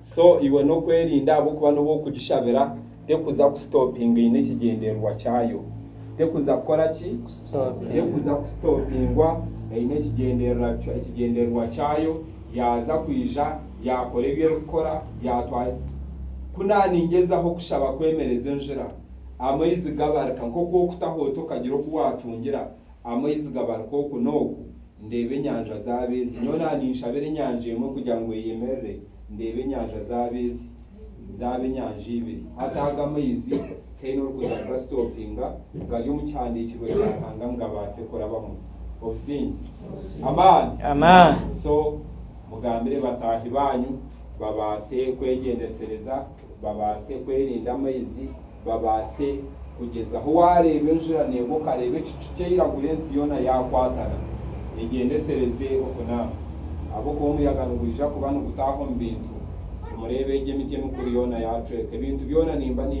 So iwe n'okwerinda ahabw'okuba n'obu okugishabira tekuza kusitopinga eine ekigyendererwa kyayo. Tekuza kukora ki? Tekuza kusitopingwa eine ekigyendererwa ekigyendererwa kyayo. Yaaza kwija yaakora ebi erikukora yaatwara. Ku naaningyezaho kushaba kwemereza enjura, amaizi gabarika nk'oku okutaho ota okagira oku waatungira, amaizi gabaruka oku n'oku, ndeeba enyanja zaaba ezi. Nyowe na ninshabira enyanja emwe kugira ngu eyemerere, ndeeba enyanja zaaba ezi, zaaba enyanja ibiri. Hati aga amaizi tihaine orikuza kugasitoopinga, gari omu kihandiikirwe kya Ruhanga ngu gabaase kurabamu. Obusinge. Amaani. So, mugambire bataahi baanyu babaase kwegyendesereza, babaase kwerinda amaizi. babaase kugyezaho. Waareeba enjura neegwa okareeba ekicu kyairagura ensi yoona yaakwatana egyendesereze okunaaba ahabw'okuba omuyaga nigwija kuba nigutaaha omu bintu. Nimureeba egi emiti emikuru yoona yaacweka, ebintu byona nimba nimba.